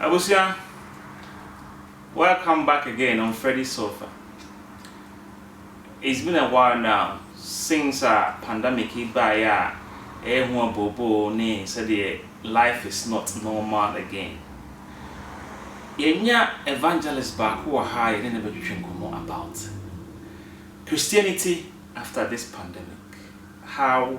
Abusua welcome back again on Freddy Sofa it's been a while now since a pandemic yi baeɛ a ɛyɛ ho abooboo ne sɛdeɛ life is not normal again yɛnya evangelist baako wɔ ha a yɛne no bɛtwetwe nkɔmmɔ about Christianity after this pandemic how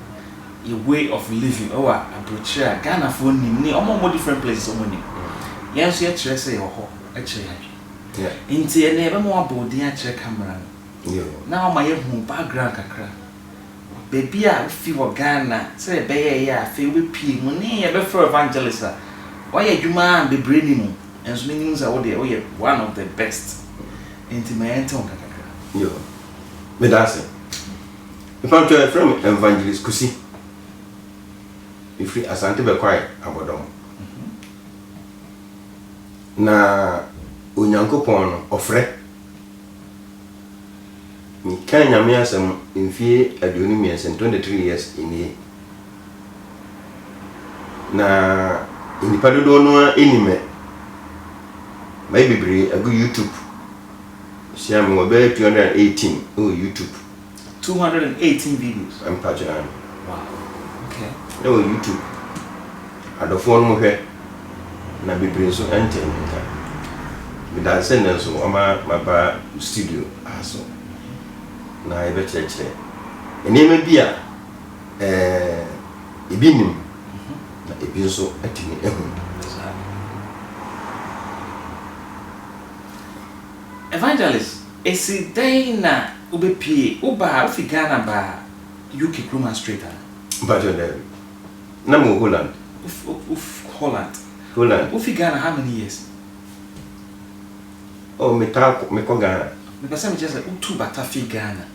yɛ way of living ɛwɔ abrokyire a Ghana foɔ nim ne ɔmo a ɔmo different places ɔmo nim yɛn nso yɛ kyerɛ sɛ yɛwɔ hɔ ɛkyerɛ yɛn adwene nti ɛnɛ yɛ bɛma wabɔ odin akyerɛ camera no na wama yɛ hu wo background kakra baabi a wo fi wɔ Ghana sɛ yɛ bɛyɛ ɛyɛ a afei wo bɛ pie mu ne yɛ bɛ frɛ evangelist a wayɛ adwuma a bebree nim wo nso me nim sɛ wo deɛ wo yɛ one of the best nti ma yɛn te wo nka kakra. Yo, meda ase. Mepa wo kyɛw yɛfrɛ me Evangelist Kusi mefiri Asante Bɛkwae abɔdɔm na Onyankopɔn no ɔfrɛ me kaa Nyame asɛm mfie aduonu mmiɛnsa ni 23 years nie na nnipa dodoɔ no ara ɛni mɛ mayɛ bebree agu YouTube hyia me wɔ bɛyɛ 218 ɛwɔ YouTube Two hundred and eighteen videos. Mpa kyerɛ me. Wow okay. Na wɔ YouTube adɔfoɔ no mo hwɛ na bebree nso ɛntee me nka. Meda ase nnɛ nso wɔma maba wo studio ha so na yɛbɛkyerɛkyerɛ nneɛma bi a ɛɛ ebi nim na ebi nso atumi ahu. Evangelist esi dɛn na wobepie wo ba a wofi Ghana ba UK kurom ha straight a? Mpakyɛw daabi. Na mewɔ Holland. Wof wof Holland. Holland. Wofi Ghana how many years? Oh metaa kɔ mekɔ Ghana. Mepɛ sɛ mekyerɛ sɛ wotuu bata fii Ghana.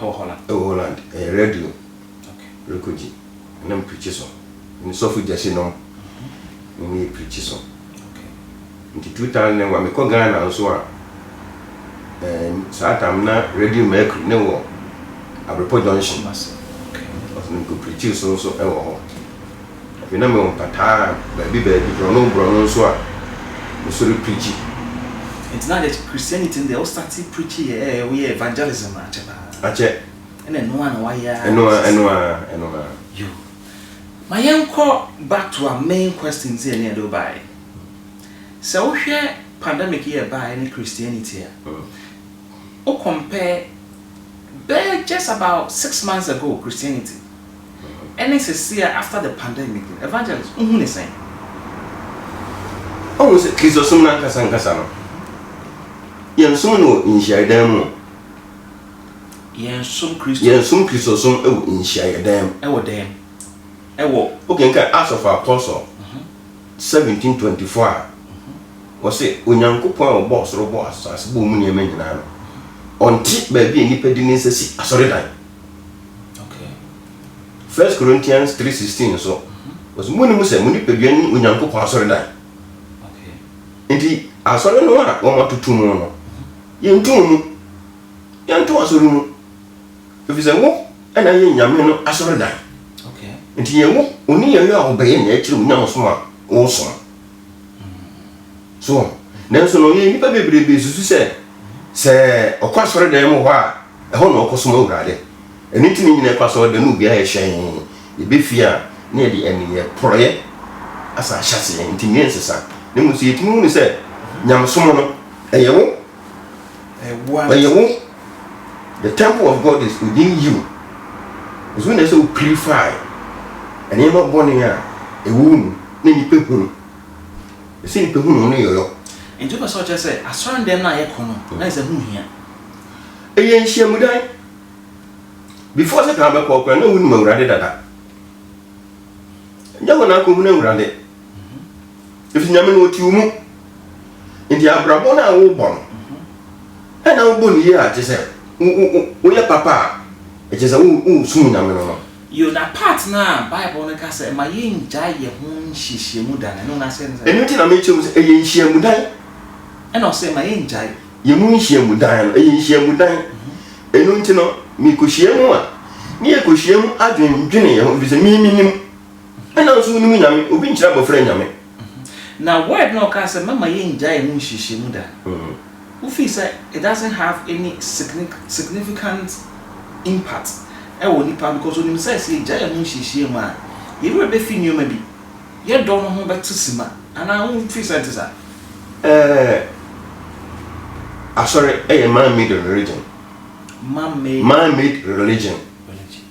Ɛwɔ Holland. Ɛwɔ Holland. Ɛyɛ radio. Okay. Rekogye. Ɛna me preachi so. Me ne sɔfo Gyasi nom ne me yɛ preachi so. Okay. Nti two thousand and one me kɔ Ghana nso a, ɛɛ saa time no na Radio Mercury ne wɔ Abrepo Junction. Kumasi. Okay. Ɔso no me kɔ preachi so nso ɛwɔ hɔ. Afei na mewɔ mpataa baabi baabi, borɔno borɔno nso a meso repregye. Nti na akyɛ Christianity no deɛ wo startee preaching yɛ ɛɛ woyɛ evangelism no akyɛ paa. Akyɛ. Ɛna ɛno ara na wayɛ ara Ɛno ara, ɛno ara, ɛno ara. Yo. Ma yɛnkɔ back to our main question sɛ yɛne yɛde wo baeɛ. Sɛ wohwɛ pandemic yi a ɛbaeɛ ne Christianity a, wo compare bɛyɛ just about six months ago Christianity. ɛne sesea after the pandemic no Evangelist wohu ne sɛn? Wohu sɛ Kristosom no ankasa ankasa no yɛnsom no wɔ nhyiaeɛdan mu o. Yɛnsom Kristo. Yɛnsom Kristosom wɔ nhyiaeɛdan mu. Ɛwɔ dan mu. Ɛwɔ. Wokenkan Acts of Apostle seventeen twenty four a, wɔse Onyankopɔn a ɔbɔɔ soro bɔɔ asase bɔɔ mu nneɛma nyinaa no, ɔnte baabi a nnipa de ne nsa si asɔredan. First Corinthians three sixteen nso, ɔsi munim sɛ mo nipadua ne Onyankopɔn asɔredan. Nti asɔre no a wɔn atutu mu no, yɛntu mo mu, yɛnto asɔre mu, efisɛ wo na yɛ Nyame no asɔredan. Nti yɛwɔ oniyɔyɔ a wɔbɛyɛ na yɛkyerɛ wo nyamesom a wosom. So wɔn? Nanso no, yɛn nnipa bebrebe susu sɛ sɛ ɔkɔ asɔredan mu hɔ a, ɛhɔ na ɔkɔsom Awurade. Ɛno nti na nyina ɛkɔ asɔredan no obiara yɛ hyɛn. Yɛbɛfie a, na yɛde ɛneyɛ porɔeɛ asa ahyɛaseɛ, nti nwie nsesa. Na mmom sɛ yɛtumi hunu sɛ nyamesom no, ɛyɛ wo. Ɛyɛ wo. The temple of God is within you. Nso na ɛsɛ wo purify nneɛma bɔne a ɛwɔ wo mu na nipa hunu. Ɛsɛ nipa hunu wo ne yɔyɔ. Nti wopɛ sɛ ɔkyerɛ sɛ asɔre dɛm no a yɛkɔ no na ɛsɛ ho hia? Ɛyɛ nhyiamudan. Before Satan bɛkɔ kora na wonim Awurade dada. Nyɛ hɔ na akɔhunu Awurade. Ɛfiri Nyame na ɔte wo mu. Nti abrabɔ no a wobɔ no, ɛna wobɔ no yie a, kyerɛ sɛ woyɛ papa a, ɛkyerɛ sɛ wosom Nyame no no. Yo, na part no a Bible no ka sɛ ma yɛngyae yɛn ho nhyiamu da no, ɛno no aseɛ ne sɛn? Ɛno nti na mekyerɛ mu sɛ ɛyɛ nhyiamu dan. Ɛna ɔse ma yɛngyae. Yɛn mu nhyiamu dan no, ɛyɛ nhyiamu dan. Ɛno nti no, mekɔhyia mu a, ne yɛkɔhyia mu adwendwene yɛn ho, ɛfiri sɛ me menim. Ɛna nso wonim Nyame, obi nkyerɛ abɔfra Nyame. Na word no a ɔkaa sɛ mɛma yɛngyae ɛho nhyiahyɛmu da no, wo feel sɛ it doesn't have any significant impact ɛwɔ nipa because onim sɛ sɛ yɛgyae ɛho nhyiahyɛmu a yɛn werɛ bɛfi nneɛma bi, yɛ dɔ no ho bɛte sima, anaa wo feel sɛ ɛnte saa? Ɛɛ Asɔre ɛyɛ man made religion. Man made. Man made religion.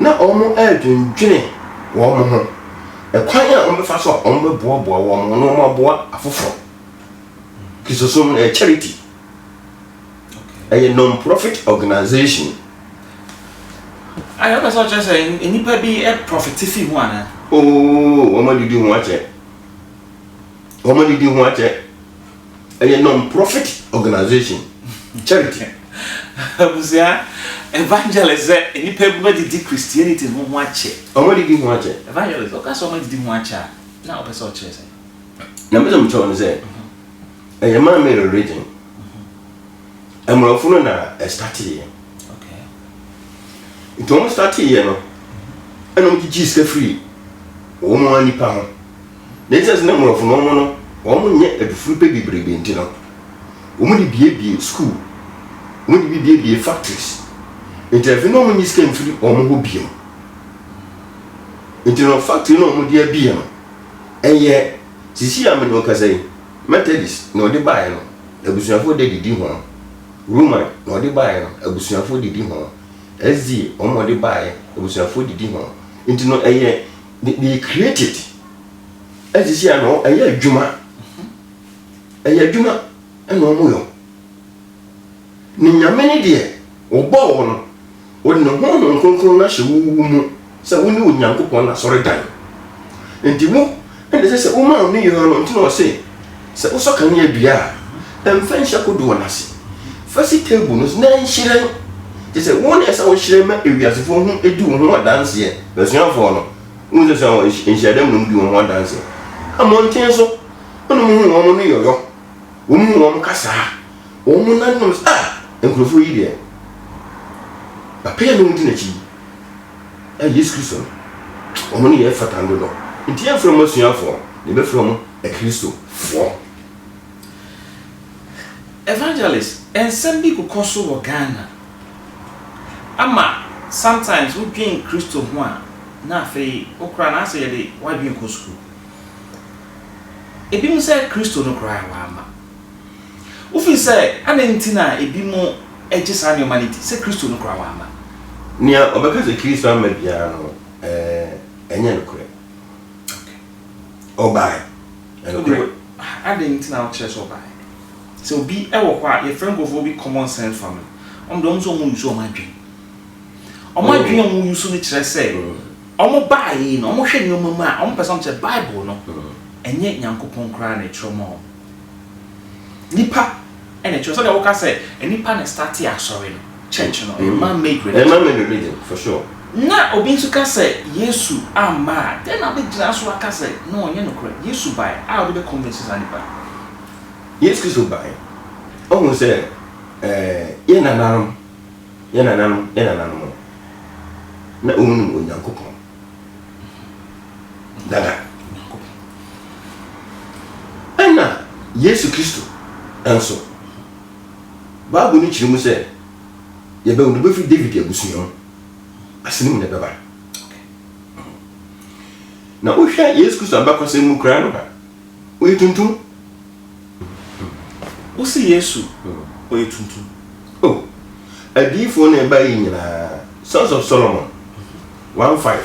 Ná wɔredwendwene wɔn ho kwan a wɔbɛfa so a wɔbɛboaboa wɔn ho na wɔaboa afoforo. Kristosom no yɛ charity. Ɛyɛ non-profit organization. Ayɛ ɔpɛ sɛ ɔkyerɛ sɛ nnipa bi profit fi ho ana? Oo, wɔn adidi ho akyɛ. Wɔn adidi ho akyɛ. Ɛyɛ non profit organization, charity. Abusua, evangelist sɛ nnipa bi bɛdidi Christianity ho ho akyɛ. Ɔmo adidi ho akyɛ. Evangelist, ɔka sɛ ɔmo adidi ho akyɛ a, na ɔpɛ sɛ ɔkyerɛ sɛn? Nea mepɛ sɛ mekyerɛ wo ne sɛ, ɛyɛ man made religion. Mmorɔfo no na ɛstateeɛ. Nti wɔn stateeɛ no, ɛna wɔgyigyee sika firii wɔn ara nnipa ho. Na esiane sɛ na mmorɔfo no wɔn no wɔnyɛ adufurupɛ bebrebe nti no, wɔde biebie sukuu, wɔde bi biebie factories. Nti afei na wɔnyi sika mfiri wɔn hɔ biom. Nti no factory na wɔde abie no, ɛyɛ sisi a mene wo kasa yi, Methodist na wɔde baeɛ no, abusuafoɔ de didi ho. Roman na wɔde baeɛ no, abusuafoɔ didi ho. SD wɔn wɔde baeɛ, abusuafoɔ didi ho. Nti no ɛyɛ me me yɛ created ɛte sɛ ano ɛyɛ adwuma ɛyɛ adwuma ɛna ɔmo yɔ ne nyame ne deɛ ɔbɔ wɔ no ɔde ne honhom kronkron no ahyɛ wo wo mu sɛ wo ne onyankopɔn no asɔre dan nti wo ɛna sɛ sɛ wo ma ɔno yɔ no nti na ɔse Sɛ wosɔ kanea dua a, mfa nhyɛ kodoɔ no ase. Fa si table no so na nhyerɛn. Kyerɛ sɛ, wo na ɛsɛ sɛ wohyerɛn ma ewiasefo ho di wo ho adanseɛ. M'asuafoɔ no, wohu sɛ sua wɔn, nhyiadam no wɔdi wɔn ho adanseɛ. Amɔnten so wo na mohu wɔn no yɔyɔ. Wɔn mu wɔn kasa a, wɔn nan no nom sɛ, Ah! Nkurɔfoɔ yi deɛ, apɛyɛ na wɔdi n'akyi yi. Ah, Yesu Kristo no, wɔn nneyɛɛ fata no dodo. Enti yɛmfrɛ wɔn asuafoɔ, na yɛbɛfrɛ wɔn. Akristofoɔ. Evangelist, nsɛm bi rekɔ so wɔ Ghana ama sometimes wo dwen Kristo ho a na afei wo koraa na ayɛ sɛ yɛde w'adwen kɔ sukuu. Ebi mo sɛ Kristo no koraa w'ama wo firi sɛ adɛn nti na ebi mo gye saa nneɛma no di sɛ Kristo no koraa w'ama. Nea ɔbɛka sɛ Kristo amma biara no ɛɛ ɛnyɛ nokorɛ. ɔbae. Ɛnde adɛn nti na wokyerɛ sɛ ɔbae? Sɛ obi wɔ hɔ a, yɛfrɛ nkurɔfoɔ bi common sense foɔ no, wɔn deɛ wɔn sɛ wɔn use wɔn adwene. Wɔn adwene a wɔn use no kyerɛ sɛ wɔn baeɛ no, wɔn hwɛ nneɛma mu a, wɔn pɛ sɛ wɔn kyerɛ Bible no, ɛnyɛ Nyankopɔn koraa na ɛtwerɛ maa wɔn. Nipa ɛna ɛkyerɛ sɛdeɛ woka sɛ nipa na startee asɔre no church no ɛyɛ man made religion. Ɛyɛ man made religion for sure. Na obi nso ka sɛ Yesu amma a dɛn na wobɛgyina so aka sɛ na ɔnyɛ nokorɛ? Yesu bae a wode bɛ convince saa nipa no. Yesu Kristo bae, ɔhuu sɛ ɛɛ yɛn nananom, yɛn nananom, yɛn nananom no na wɔnnim Onyankopɔn. dada Onyankopɔn. Ɛna Yesu Kristo nso, Bible no kyerɛ mu sɛ yɛbɛwo no bɛfiri David abusua mu, ase no mu na ɛbɛba. Na wohwɛ Yesu Kristo abakɔsɛm mu koraa no a, Ɔyɛ tuntum. Wo se Yesu ɔyɛ tuntum. Oh, adiyifoɔ na ɛba yi nyinaa, Sons of Solomon, one five.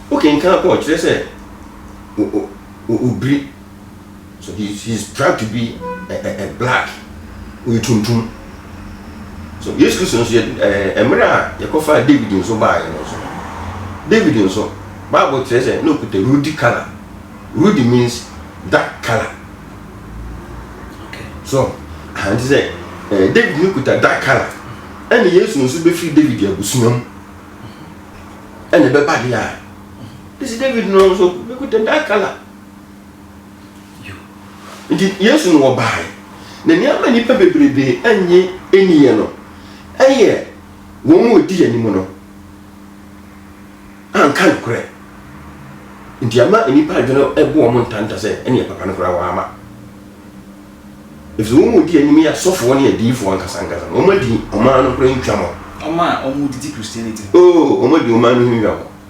Wo kenkan kɔ, ɔkyerɛ sɛ, o, o, o, obiri. So he is he is trying to be a a a black ɔyɛ tuntum so yesu kristo nso yɛ ɛɛ mmerɛ a yɛkɔfa david nso baayɛ no nso david nso bible kyerɛ sɛ na ɔkuta rudy color rudy means dark color so ahanti sɛ ɛɛ david no kuta dark color ɛna yesu nso bɛfiri david abusua mu ɛna ɛbɛba deɛ a ɛsi david no nso bɛkuta dark color Nti Yesu na ɔbaeɛ. Na nneɛma nnipa bebrebe nnye nniiɛ no, ɛyɛ wɔn a wɔdi anim no anka nokorɛ. Nti ama nnipa adwene bo wɔn ntanta sɛ ɛneɛ papa no koraa wɔama. Ɛfisɛ wɔn a wɔdi anim yɛ asɔfoɔ ne adiyifoɔ ankasa ankasa no, wɔn adi ɔman no koraa ntwa mɔ. Wɔn a wɔdidi Christianity no. Oo, wɔn adi ɔman no ho ntwa mɔ.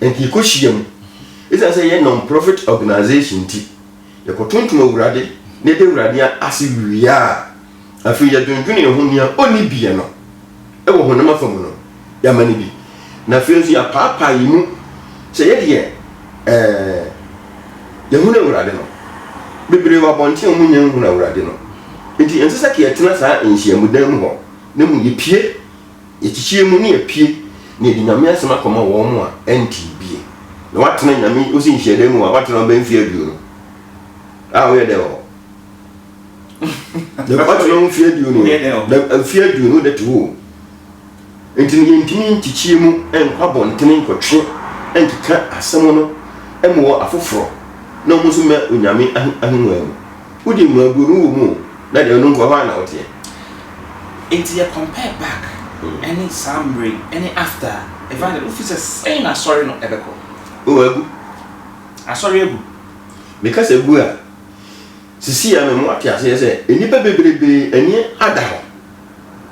Enti yɛkɔhyia mu. Esiane sɛ yɛyɛ non-profit organization nti, yɛkɔtontom Awurade na yɛda Awurade ase wie a, afei yɛdwendwene yɛn ho nea onni biɛ no wɔ honam afam no, yɛama no bi. Na afei nso yɛapaapaa yɛn mu sɛ yɛdeɛ ɛɛ yɛhunu Awurade no. Bebree wɔ abɔnten a wɔnnya nhunu Awurade no. Enti ɛnsɛ sɛ ka yɛtena saa nhyiamudan mu hɔ, na mmom yɛpue. Yɛkyekyee mu ne yɛpue na yɛde Nyame asɛm akɔma wɔn a ɛntee bie na wɔatena Nyame osi nhyiadan mu a wɔatena hɔ bɛyɛ mfe aduonu a woyɛ dɛn wɔ hɔ? Dabi wɔatena hɔ mfe aduonu o, mfe aduonu wode te hɔ o. Nti no yɛntumi nkyekyee mu nkɔ abɔntene nkɔtwe nkeka asɛm no mmowɔ afoforɔ na wɔn nso mmɛ Onyame ahengua mu. Wode mua gu no wɔ mu o na deɛ ɔno nko hɔ a na woteɛ. Enti yɛ compare back ɛne saa mmerɛ yi ɛne after a, Evangelist wo feel sɛ sɛn na asɔre no ɛbɛkɔ? Oh agu. Asɔre agu. Me ka sɛ agu a, sisi a me mo ate aseɛ sɛ nnipa bebrebe ani ada hɔ.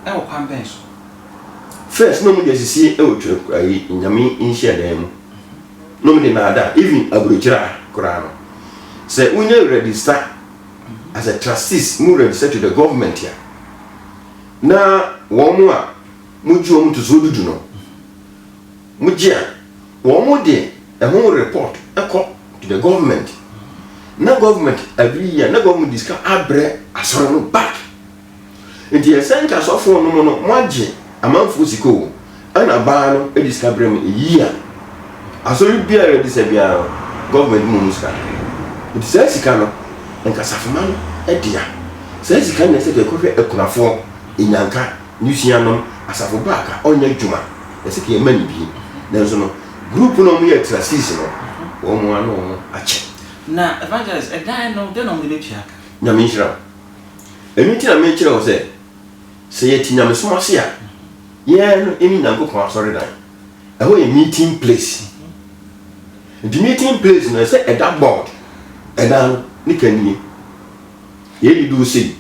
Ɛwɔ kwan bɛn so? First na ɔmo de asisi ɛwɔ twerɛ ayi Nyame nhyia dan mu. Nom de naadaa even abrokyire a koraa no sɛ wo nya rɛdista as a trustees mo rɛdista to the government a na wɔn mo a mo gye wɔn to so dudu no mo gye a wɔn mo de ɛho report ɛkɔ to the government na government agree a na government de sika abrɛ asɔre no back. Nti ɛsɛ nka sɔfoɔ nom no mo agye amanfoɔ sika o ɛna baa no de sika brɛ mo eyii a asɔre biara de sɛ biara no government mo mu sika no nti saa sika no nka safoma no dea saa sika no na ɛsɛ ka ɛkɔhwɛ akunafoɔ enyanka nwusua nom asafo ba ka ɔnyɛ adwuma na ɛsɛ ka yɛ ma no bi nanso no group no ɔmo yɛ trustees no ɔmo ano ɔmo akyɛ. Na evangelist ɛdan no dɛn na ɔmo de bɛtua ka. Nyame nhyira wo. Ɛno nti na merekyerɛ wo sɛ, sɛ yɛte nyamesom ase a, yɛn no ɛne Nyankopɔn asɔredan. Ɛhɔ yɛ meeting place. Nti meeting place no ɛsɛ ɛda board, ɛdan no ne kanie. Yɛn de duru sei,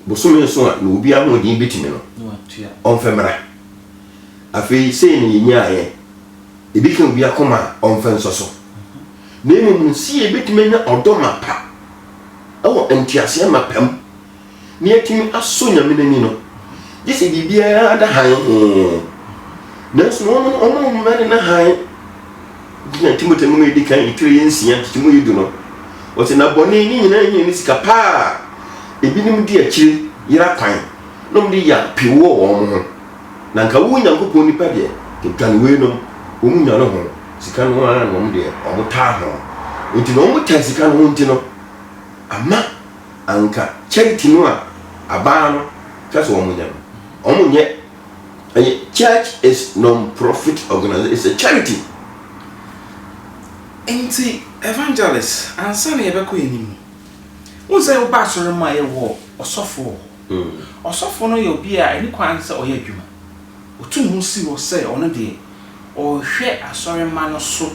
bosome nso a na obi ahoɔden bɛtumi no, ɔmfɛ mmra. Afei sei na yɛnyaeɛ. Ebi ka obi akoma a ɔmfa nsɔ so, na mmom no sɛ yɛbɛtumi anya ɔdɔ mapa wɔ nteaseɛ mapa mu na yɛatumi asɔ Nyame no ani no, gye sɛ biribiara da hann hee. Nanso no wɔn wɔn a wɔn ne no hann gyina Timoteo nwoma a ɛdi kan etire yɛ nsia nkyekyɛmu yɛ du no, wɔsɛ na bɔne ne nyinaa hia ne sika paa, ebinom di akyire yera kwan na wɔde ya pe wɔ wɔn ho. Na nka wo Nyankopɔn nipa deɛ dwane wei nom, wɔn nya no ho sika no ara na wɔn deɛ wɔn taa ho, nti na wɔn tan sika no ho nti no, ama anka charity no a abaa no ka sɛ wɔn nyɛ no, wɔn nyɛ, ɛyɛ church is non profit organization, it's a charity. Nti evangelist ansa na yɛbɛkɔ anim no, wohu sɛ wobaa asɔre mu a yɛwɔ ɔsɔfo wɔ hɔ. Ɔsɔfo no yɛ obi a ɛne kwan sɛ ɔyɛ adwuma. Otu ne ho si hɔ sɛ ɔno deɛ, ɔrehwɛ asɔremma no so,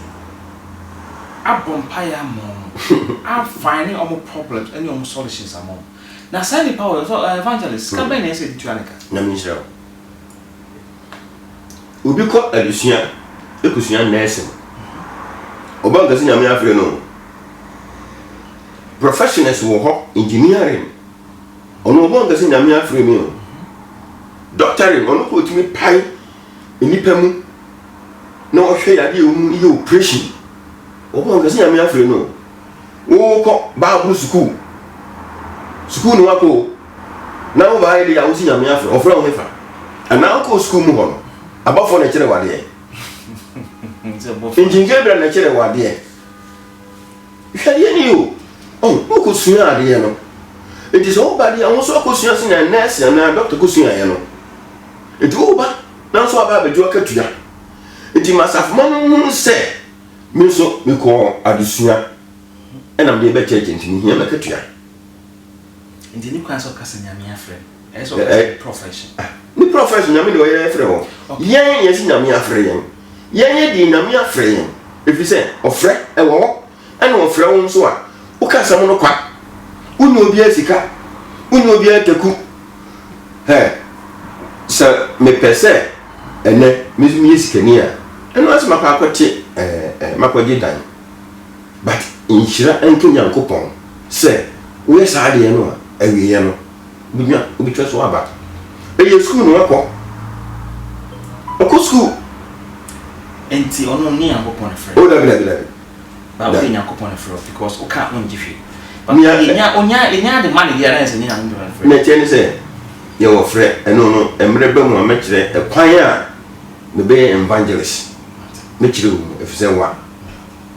abɔ mpaeɛ ama wɔn, afine wɔn problems ne wɔn solutions ama wɔn. Na saa nipa wei, ɔsɔ eh, evangelist, sika bɛn na ɛsɛ sɛ yɛde tua no ka? Nyame nhyira wo. Obi kɔ adesua kosua nursing, ɔba nkɛse Nyame afrɛ no o. Professionals wɔ hɔ, engineering. Ɔno ɔbɔ nkɛ sɛ Nyame afrɛ me o. Doctoring, ɔno kɔ ɔtumi pae nnipa mu na ɔhwɛ yadeɛ wɔ mu yɛ operation. Ɔbɔ nkɛ sɛ Nyame afrɛ no o. Wokɔ Bible sukuu, sukuu no wakɔ o, na wo baayɛ de yɛ a wosi Nyame afrɛ, ɔfrɛ wo hefa? Anaa wokɔ sukuu mu hɔ no, abɔfoɔ na ɛkyerɛ wo adeɛ? Nti Gabriel na ɛkyerɛ wo adeɛ? Hwɛ deɛ nie o, oh, mo kɔ sua adeɛ no, nti sɛ wo ba deɛ wo nso akɔ sua sɛnea nɛɛse anaa dɔkta kɔ suaeɛ no, nti wo ba na nso aba abɛgye w'akatua, nti ma asafomma no nhunu sɛ me nso mekɔɔ adesua ɛna mede bɛ church nti mehia m'akatua. Nti ne kura sɛ ɔka sɛ nyame afrɛ no. Ɛyɛ sɛ ɔka sɛ ne profession. Ah, ne profession nyame de ɔyɛ afrɛ hɔ. Yɛn yɛn si nyame afrɛ yɛn. Yɛn yɛ deɛ nyame afrɛ yɛn. Ɛfiri sɛ ɔfrɛ ɛwɔ hɔ. Ɛna ɔfrɛ wo nso a, woka asɛm no kwa. Wonyɛ obiara sika. Wonyɛ obiara taku. Hɛ, sɛ mepɛ sɛ ɛnɛ me nso meyɛ sikani a, ɛno ara sɛ makɔ akɔte ɛɛ, makɔgye dan. But nhyira nka Nyankopɔn sɛ woyɛ saa adeɛ no a awieɛ no wobɛnya wobɛtwa so aba. Ɛyɛ sukuu na wakɔ. Ɔkɔ sukuu. Nti ɔno ɔnyɛ Nyankopɔn na ɛfrɛ no? Oh dabi dabi dabi. Ba wode Nyankopɔn na ɛfrɛ o because wo ka ɔngye hwee. Ba Nea ɛ. yɛnya ɔnya yɛnya ade ma no deɛ a na ayɛ sɛ ɛnyɛ Nyankopɔn na ɛfrɛ. Nea ɛteɛ ne sɛ yɛwɔ frɛ. Ɛno no mmerɛ ba mu a mɛkyerɛ ɛkwan a mebɛyɛ evangelist. Mɛkyerɛ wo mu ɛfiri sɛ wa.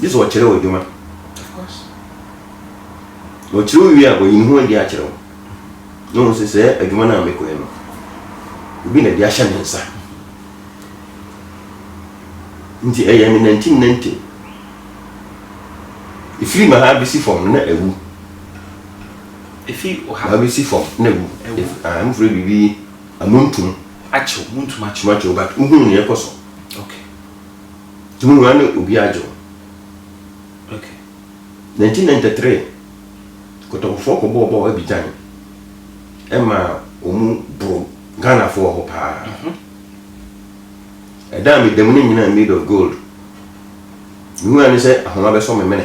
Gye sɛ ɔkyerɛ wo adwuma. Ɔkyerɛ wie a, ɔyi ne ho adi akyerɛ wo. Na ɔhu sɛ sɛ adwuma no a mekɔɛ no, obi na de ahyɛ me nsa. Nti ɛyɛ me nantinanti. Ɛfiri ma ha bɛsi fam no na awu. Ɛfiri ɔha bɛsi fam na awu. Ah, mfrɛ biribi amuntum. Akyew, muntum akyew. Akyew, but wohunu ne ɛkɔ so. Okay. Tumunya ne obi adwo. Okay. 1993, Kotɔkɔfoɔ kɔbɔɔ bɔɔ Abidjan ɛma ɔmu boro Ghanafoɔ hɔ paa. Mhm. Ɛda a meda mu no nyinaa made of gold. Mehuu ane sɛ ahoma bɛsɔ me mene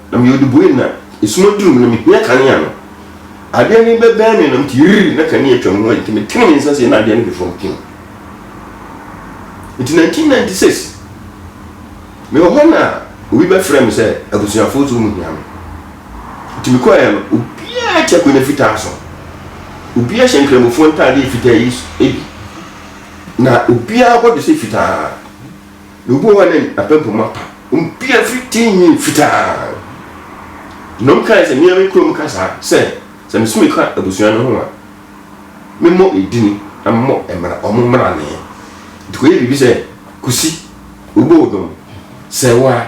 Na meyɛ ɔdubɔni, na esum aduru me, na mihia kanea no. Adeɛ no bɛbɛn me, na mete yiriri, na kanea atwa me ho, enti metene me nsa sei, na adeɛ no hwe fam pii. Enti 1996, mewɔ hɔ na obi bɛfrɛɛ me sɛ abusuafoɔ sɛ wɔn hia me. Enti mekɔeɛ no, obiara te akonnwa fitaa so, obiara hyɛ nkramofoɔ ntaadeɛ fitaa yi bi, na obiara bɔdwe sɛ fitaa. Na obi wɔ hɔ a ne n'apampam apa, obiara firi tee nyɛ fitaa. Na wɔkae sɛ, Mea me kurom kasa sɛ, sɛ mesome ka abusua no ho a, memmɔ edin na memmɔ mmara, wɔn mmara no ɛ. Nti kɔyɛ biribi sɛ, Kusi, wobɔ odom, sɛ wo a,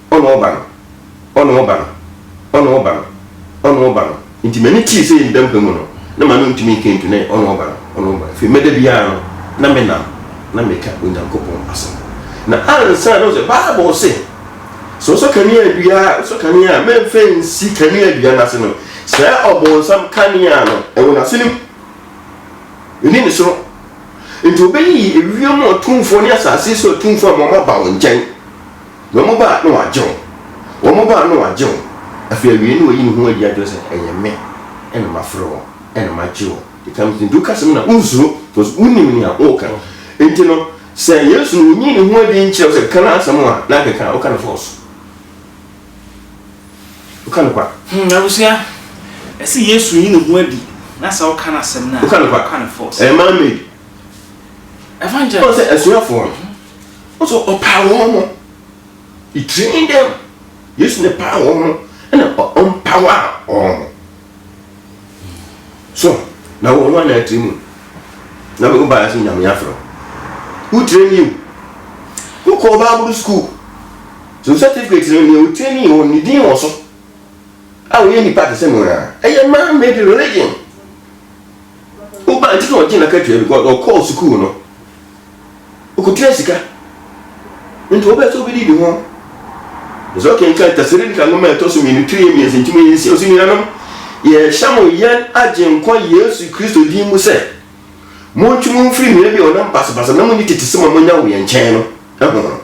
Ɔne wo ba no, ɔne wo ba no, ɔne wo ba no, ɔne wo ba no. Nti m'ani kyii sɛ yɛnda mpa mu no, na m'ano ntumi nka ntu ne ɔne wo ba no, ɔne wo ba no. Afei mɛda biara no, na menam na meka Onyankopɔn asɛm. Na ansa na ɔsɛ, Bible se, Sɛ wosɔ kanea dua a, wosɔ kanea a, mɛmfa nsi kanea dua no ase no, sɛɛ ɔbonsam kanea no, ɛwɔ n'asenem. Ɛni ne soro. Nti ɔbɛyiyi ewiem ɔtumfoɔ ne asase so atumfoɔ ama wɔn aba wo nkyɛn. Wɔn ba na wɔagye wo. Wɔn ba na wɔagye wo. Afei awiei na wayi ne ho adi akyerɛ sɛ, Ɛyɛ me na mafrɛ wo na magye wo. It comes to nti woka asɛm no a wonsuro because wonim nea woreka. Nti no sɛ Yesu no onyii ne ho adi nkyerɛ wo sɛ ka n'asɛm a na akeka a woka no false. Woka no kwa. Hmm, abusua, ɛse Yesu nyi ne ho adi na sɛ woka n'asɛm no a woka no false. Ɛyɛ man made. Evangelist. Ɔsɛ asuafoɔ no. So ɔpaa wɔn no? He trained them. Yesu ne paa wɔn no, ɛna ɔmpawa wɔn no. So na wɔn wɔn na atiri mu na wɔn ba ase nyame afro. Who train you? Who call Bible school? So certificate no ne o train you on ne din wɔ so. A wɔyɛ nipa te sɛ mo na ɛyɛ man made religion. Wo ba nti na ɔgye na katua because ɔkɔɔ sukuu no. Okotua sika. Nti wopɛ sɛ obi didi ho? Ɛsɛ ɔkenkan Tessalonika nwoma a ɛtɔ so mmienu tiri mmiɛnsa nti mu yɛ nsia ɔsi nuanom yɛhyɛ mo yɛn agyenkwa Yesu Kristo din mu sɛ montwe mo mfiri nua bi a ɔnam basabasa na monni tete sɛm a monya wɔ yɛn nkyɛn no ho no.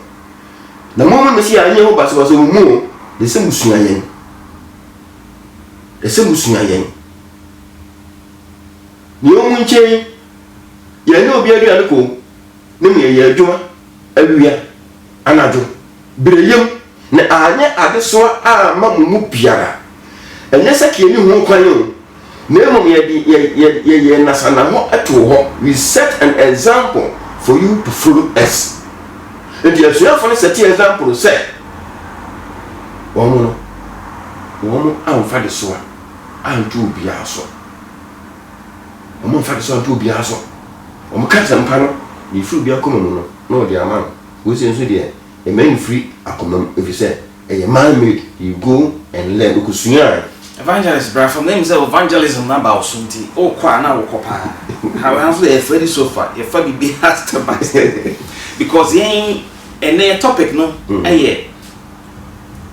Na mommɔ me sɛ yɛanyɛ ho basabasa wɔ mu o, na ɛsɛ musua yɛn. Ɛsɛ musua yɛn. Nea ɔmu nkyɛn Yɛnyɛ obi aduane komm na mmom yɛyɛ adwuma awia, anadwo, bere yam, na anyɛ adesoa amma mo mu biara. Ɛnyɛ sɛ k'yɛnni ho kwan o, na mmom yɛde yɛn nnasannahɔ too hɔ, we set an example for you to follow us. Enti asuafo no sɛtee example sɛ wɔn no, wɔn amfa adesoa anto obiara so. wɔmfa nsɔ nto obiara so. Wɔka asɛmpa no, deɛ ɛfiri obi akoma mu no na wɔde ama no. Wei sei nso deɛ, ɛma no firi akoma mu, ɛfiri sɛ ɛyɛ man made, you go and learn, wokɔsuaae. Evangelist bra fam, na nim sɛ evangelism no aba wo so nti wokɔ a na wokɔ paa. How yɛn nso yɛfa di sofa, yɛfa biribiara step by step because yɛn ɛnnɛ yɛn topic no yɛ.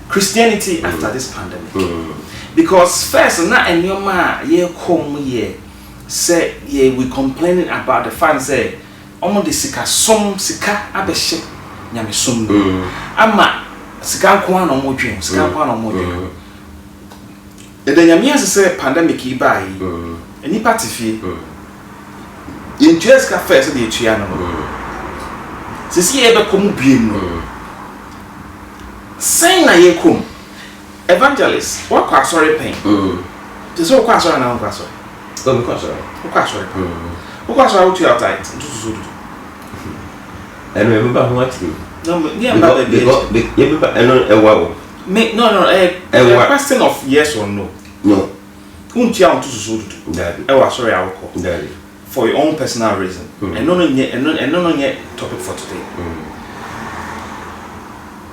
Christianity mm. after this pandemic. Mm. Because first, na enyoma ye kom ye say ye we complaining about the fan say omo de sika som sika abehye nyame som mm. ama sika nko na omo dwen sika nko na omo dwen. Mm. Yɛda Nyame ase sɛ pandemic yi bae yi, nnipa te fie. Yɛntuaa sika fɛɛ sɛdeɛ yɛtua no no. Seesei yɛrebɛkɔ mu biom no, sɛn na yɛkɔ mu? Evangelist, woakɔ asɔre pɛn? Te sɛ wokɔ asɔre anaa wonkɔ asɔre? Oh, mekɔ asɔre. Wokɔ asɔre paa. Wokɔ asɔre a wotua wo tithe, ntotosoɔ du du? Ɛno yɛbɛba ho akyire o. Yɛmba baabi akyire. Yɛbɛba, ɛno ɛwa o. Me no no ɛyɛ ɛyɛ a question of yes or no. No. Wontua wo to susu dudu. Dabi. Ɛwɔ asɔre a wokɔ. Dabi. For your own personal reason. Mm. Ɛno no nyɛ ɛno ɛno no nyɛ topic for today. Mm.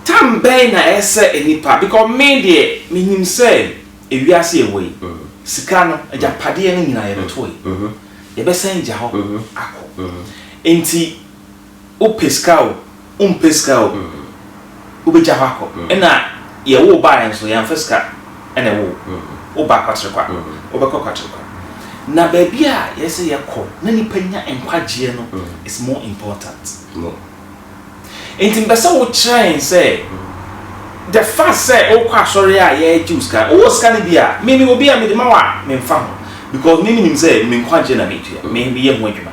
Time bɛn na ɛsɛ nnipa because me deɛ me nim sɛ ewiase ɛwɔ yi mm. sika no mm. agyapadeɛ no nyinaa yɛbɛto yi mm. mm-hmm. yɛbɛsan gya hɔ mm-hmm. akɔ mm-hmm. nti. Wopɛ sika o, wompɛ sika o, wobɛgya hɔ akɔ. Ɛna yɛwo wo baeɛ nso, yɛamfa sika na ɛwo wo. Woba Kwaterekwa, wobɛkɔ Kwaterekwa. Na baabi a yɛsɛ sɛ yɛkɔ na nnipa nya nkwagyeɛ no is more important. Enti mepɛ sɛ wokyerɛ yɛn sɛ, the fact sɛ wokɔ asɔre a yɛregye wo sika, wowɔ sika no bi a, me mewɔ bi a mede ma wo a, memfa ho. Because me menim sɛ me nkwagyeɛ na metua, meyɛ ho adwuma.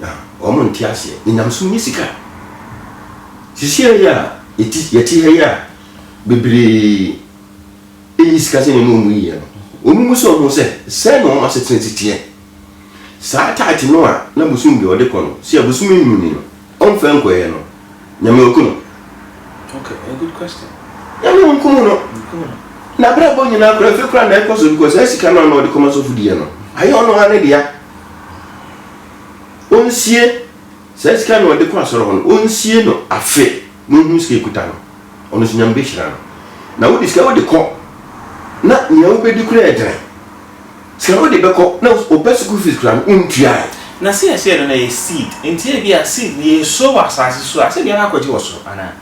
Na wɔn nte aseɛ. Na nyamesom nyɛ sika. Sisiɛ yi a yɛte ha yi a bebree nyi sika sɛ nneɛma wɔn yiyɛ no, wɔn mu sɛ wɔn sɛ sɛn na wɔn asetena si teɛ. Saa taate no a na bosom bi a ɔde kɔ no, sɛ abosom nnwuni no, Ɔmfrɛ nkɔeɛ no, Nyame ɔku no. Nyame ɔnkum no. N'abrabɔ nyinaa koraa afei koraa na ɛkɔ so because saa sika no a na ɔde kɔma sɔfo diiɛ no, ayɛ ɔno ara ne dea. Ɔnsie saa sika no a ɔde kɔ asɔre hɔ no, ɔnsie no afe na ɔnhunu sika ɛkuta no. Ɔno nso Nyame bɛhyira no. Na wode sika wode kɔ na nea wobɛdi koraa ɛdene. Sika no wode bɛkɔ na ɔba sukuu fees koraa no wontuae. Na seesei no na ɛyɛ seed nti ebia seed no yɛnsuo wɔ asaase so a sɛdeɛ akɔgye wɔ soro anaa.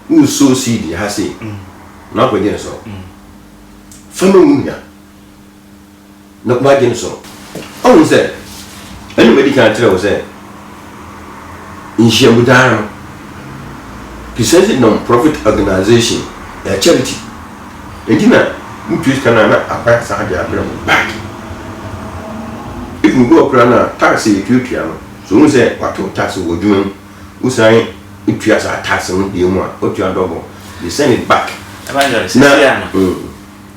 Woresuo seed ha sei na wakɔgye no soro fa ma wo nua na wagye no soro. Woahunu sɛ ɛna madi kan akyerɛ wo sɛ. nhyiamudan no, Christianity Non-Profit Organization, yɛ charity. Enti na mutua sika no a na akora saa de abrɛ mo back. Even obi wɔ hɔ koraa no a tax a yɛtuatua no, sɛ ohu sɛ wɔato tax wɔ adwuma mu, wosan tua saa tax no bio mu a, wotua double, they send it back. Evangelist, seesei a no.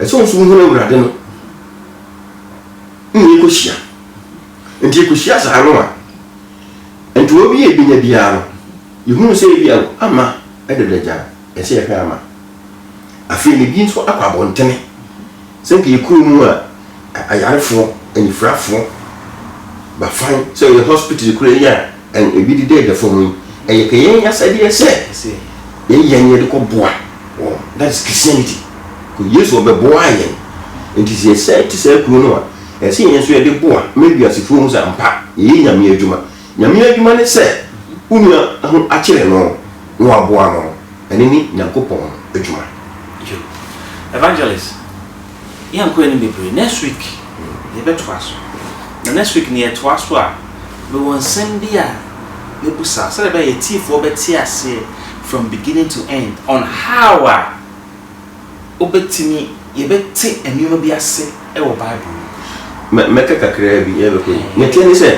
Sɛ wo nso wohunu Awurade no, ne yɛkɔhyia. Nti yɛkɔhyia saa no a, ntoɔ bi a yɛbɛnya biara no, yɛhunu sɛ ebi a ama dada gyan, ɛsɛ yɛhwɛ ama. Afei no, ebi nso akɔ abɔntene. Sɛ nka yɛ kurom a, Ayarefoɔ, anifirafoɔ, ba fan sɛ yɛ hospital kura yi a ebi dedɛɛdɛ fam yi, ɛyɛ kɛ yɛn asɛdeɛ sɛ yɛyi yɛn yɛde kɔ boa wɔn. That is Christianity. Kɔ Yesu ɔbɛboaa yɛn. Nti sɛ yɛsɛe te saa kuro no a, ɛyɛ sɛ yɛn nso yɛde boa ma wiasefoɔ hu sɛ ampa yɛyɛ Nyame adwuma. Nyame adwuma ne sɛ wo nua ho akyere no na waboa no. Ɛno ne Nyankopɔn adwuma. Evangelist. Yɛn kɔɛ no bebree next week yɛ bɛ toa so na next week no yɛ toa so a me wɔ nsɛm bi a mɛ bu sa sɛdeɛ bɛyɛ atiifoɔ bɛ te aseɛ from beginning to end on how a wo bɛ tumi yɛ bɛ te nneɛma bi ase wɔ bible mu. Mɛ mɛ ka kakraa bi yɛ bɛ kɔ yi neɛ teɛ ne sɛ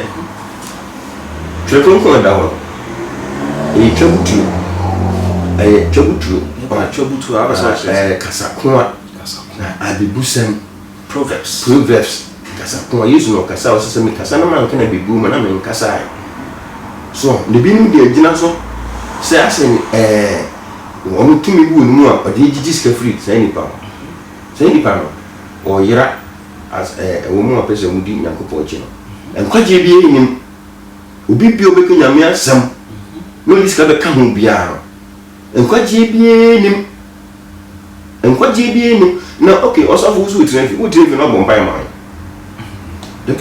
twerɛ kronkron a ɛda hɔ no ɛyɛ twa butuo ɛyɛ twa butuo ɔn ɛyɛ kasa ko a. Na abebusɛm. Proverbs. Proverbs kasa ko a Yesu na ɔkasa a ɔsɛ sɛ mekasa na manka na bebu me na menkasae. So ɔho? Na ebinom de agyina so sɛ asɛ ɛɛ wɔn tumi wɔ ne mu a ɔde gyigye sika firi saa nipa hɔ. Saa nipa no ɔyera as ɛɛ ɛwɔ mu a ɔpɛ sɛ wɔdi Nyankopɔn akyi no. Nkwagyeɛ biara nni mu. Obi biara a ɔbɛka Nyame asɛm na ɔde sika bɛka ho biara no. Nkwagyeɛ biara nnim nkwagyeɛ biara nnim na ok ɔsɔfo wo so wotire mfe wotire mfe na wabɔ mpaeɛ ma wɔn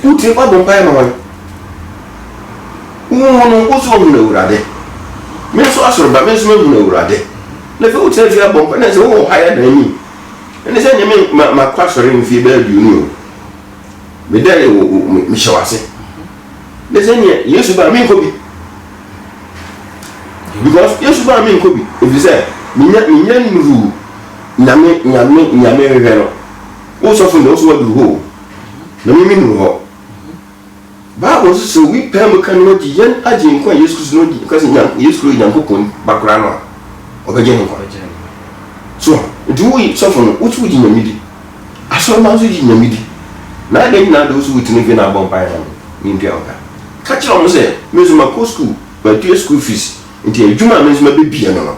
wotire wabɔ mpaeɛ ma wɔn wohu no wo so ɔhunu awurade me nso asɔre ba me nso mahunu awurade na afei wotire mfe abɔ mpaeɛ na sɛ wowɔ ha yɛ dan anim ɛne sɛ nyɛ me makɔ asɔre mfie bɛyɛ aduonu o medɛ yɛ wo mehyɛ wase Ne sɛ neɛ Yesu baa menkɔ bi because Yesu baa menkɔ bi ɛfiri sɛ menya menya nnuru nyame nyame nyame hwehwɛ no wo sɔfo ne wo so waduru hɔ na mimi nuru hɔ Bible nso sɛ obi paa mu ka ne wagye yɛn agye nkwa Yesu Kristo no ka sɛ nyan Yesu Kristo Nyankopɔn ba koraa no a ɔbɛgye ne nkwa so nti wo sɔfo no wo so wogye nyame di Asɔrmba so gye Nyame di, na adɛn nyina de wo so wotene dwe na abɔ mpaeɛ ma me, mentua wo ka? Ka kyerɛ wɔn sɛ, me nso makɔ sukuu, matua sukuu fees, nti adwuma a me nso mɛbɛbie no no,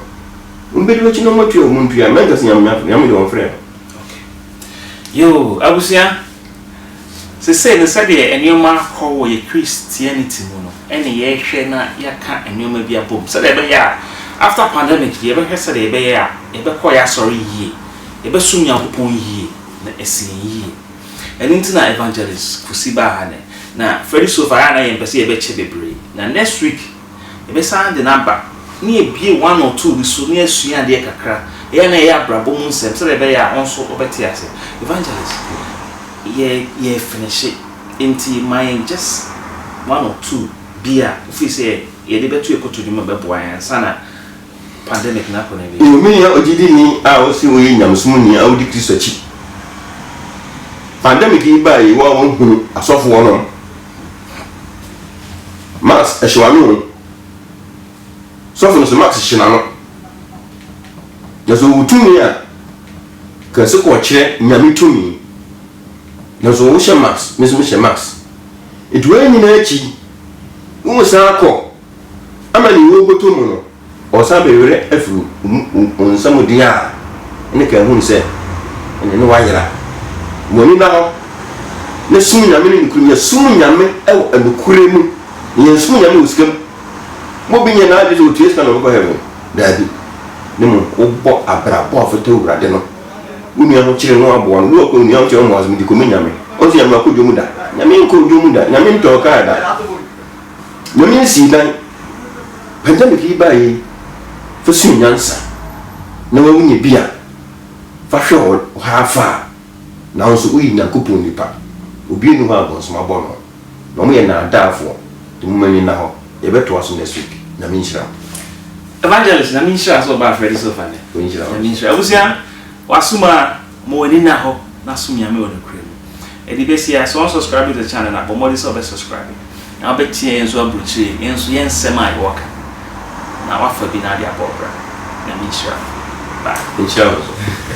wɔbɛdi m'akyi na wɔatua wɔn ntua, mɛnka sɛ Nyame nya ato, Nyame deɛ ɔmfrɛ no. Okay. Yoo, abusua, sesei no sɛdeɛ nneɛma rekɔ wɔ yɛ Christianity mu no ɛne yɛrehwɛ na yɛaka nneɛma bi abom sɛdeɛ ɛbɛyɛ a after pandemic deɛ yɛbɛhwɛ sɛdeɛ ɛbɛyɛ a yɛbɛkɔ yɛ asɔre yie. yɛbɛsom Nyankopɔn yie na asi yɛn yie. Ɛno nti na Evangelist Kwesi baa ha nnɛ. Na Freddie Sofa ayɛ a na yɛmpɛ sɛ yɛbɛkyɛ bebree. Na next week yɛbɛsan de no aba na yɛabue one or two bi so na yɛasua adeɛ kakra. Ɛyɛ a na ɛyɛ abrabɔ mu nsɛm sɛdeɛ ɛbɛyɛ a wo nso wobɛte ase. Evangelist, yɛ yɛrefinishe nti ma yɛn just one or two bi a wo feel sɛ yɛde bɛto yɛn kotodwe mu a ɛbɛboa yɛn ansa na pandemic no akɔ n'awie. Yiw, me nua ogyidini a wose woyɛ nyamesom ni a wudi Kristo akyi. Pandemic yi bae yi, wo a wohunu asɔfo wɔnom mask, ɛhye w'ano o. Sɔfo no so mask hye n'ano. Na sɛ owu tumi a, kɛse kɔ ɔkyerɛ Nyame tumi. Nanso wohyɛ mask, me nso mehyɛ mask. Enti wei nyinaa akyi, wosan kɔ ama nea ɔrebɔtɔ mu no, ɔresan bɛ werɛ afiri ɔnsam ɔdin a ne kra hunu sɛ ɛne no ayera. Mo ani nna hɔ na som Nyame ne nokorɛ mu, yɛ som Nyame wɔ nokorɛ mu, na yɛ nsom Nyame wɔ sika mu. Mo obi nyɛ n'adwene sɛ ɔtua sika na ɔbɛkɔ heaven, daabi, ne mmom wo bɔ abrabɔ a fata Awurade no, wo nua ho kyere no aboa no, wo ɔkɔ nua ho kyere ɔmɔ asem nti kɔmɛ Nyame, ɔnsɛ Nyame akɔ dwom da, Nyame nkɔ dwom da, Nyame ntɔɔ kaa da, Nyame nsii dan. Pandemic yi baeɛ yi, fa sua nyansa na wo nya bi a fa hwɛ hɔ haa faa. Nanso woyɛ Nyankopɔn nipa, obi nni hɔ a abɔnsom abɔ no, na wɔyɛ naadaafoɔ, nti mo ani nna hɔ, yɛbɛtoa so next week, Nyame nhyira mo. Evangelist Nyame nhyira sɛ ɔbaa Freddy Sofa nnɛ. Ɔnhyira wo Nyame nso. nhyira abusua wasom aa. Ma w'ani nna hɔ na som Nyame wɔ nokorɛ mu. Ɛde bɛsi a, sɛ wɔnsɔskraibe the channel no a, bɔ mmɔden sɛ wobɛsɔskraibe na wobɛteɛ yɛn nso aburokyire yi, yɛn nso yɛn nsɛm a yɛwɔ ka no, na woafa bi na wode abɔ wo bra. Nyame nhyira wo. Bye. Nhyira wo nso.